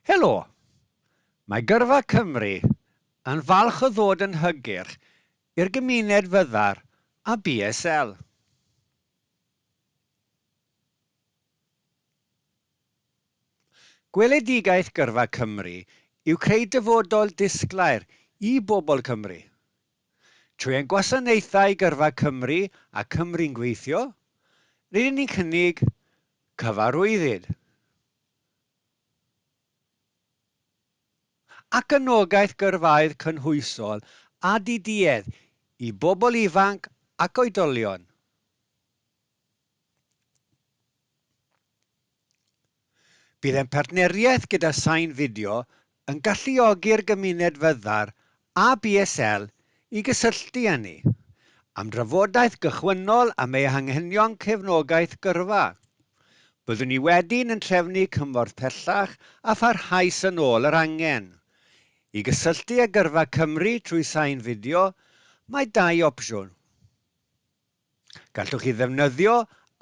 Helo! Mae Gyrfa Cymru yn falch o ddod yn hygyrch i'r gymuned fyddar a BSL. Gweledigaeth Gyrfa Cymru yw creu dyfodol disglair i bobl Cymru. Trwy ein gwasanaethau Gyrfa Cymru a Cymru'n Gweithio, rydyn ni'n cynnig cyfarwyddyd. ac anogaeth gyrfaoedd cynhwysol a diduedd i bobl ifanc ac oedolion. Bydd ein partneriaeth gyda Sain Fideo yn galluogi'r gymuned fyddar a BSL i gysylltu â ni, am drafodaeth gychwynnol am eu hanghenion cefnogaeth gyrfa. Byddwn ni wedyn yn trefnu cymorth pellach a pharhaus yn ôl yr angen. I gysylltu â Gyrfa Cymru trwy sain fideo, mae dau opsiwn. Gallwch chi ddefnyddio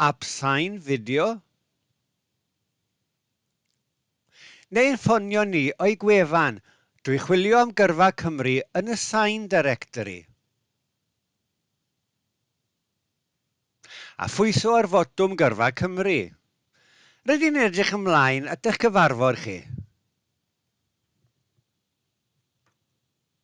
Ap Sain Fideo. Neu'n ffonio ni o'i gwefan, Dwi chwilio am gyrfa Cymru yn y Sign Directory. A phwyso ar fotwm gyrfa Cymru. Rydyn ni'n edrych ymlaen at eich cyfarfod chi.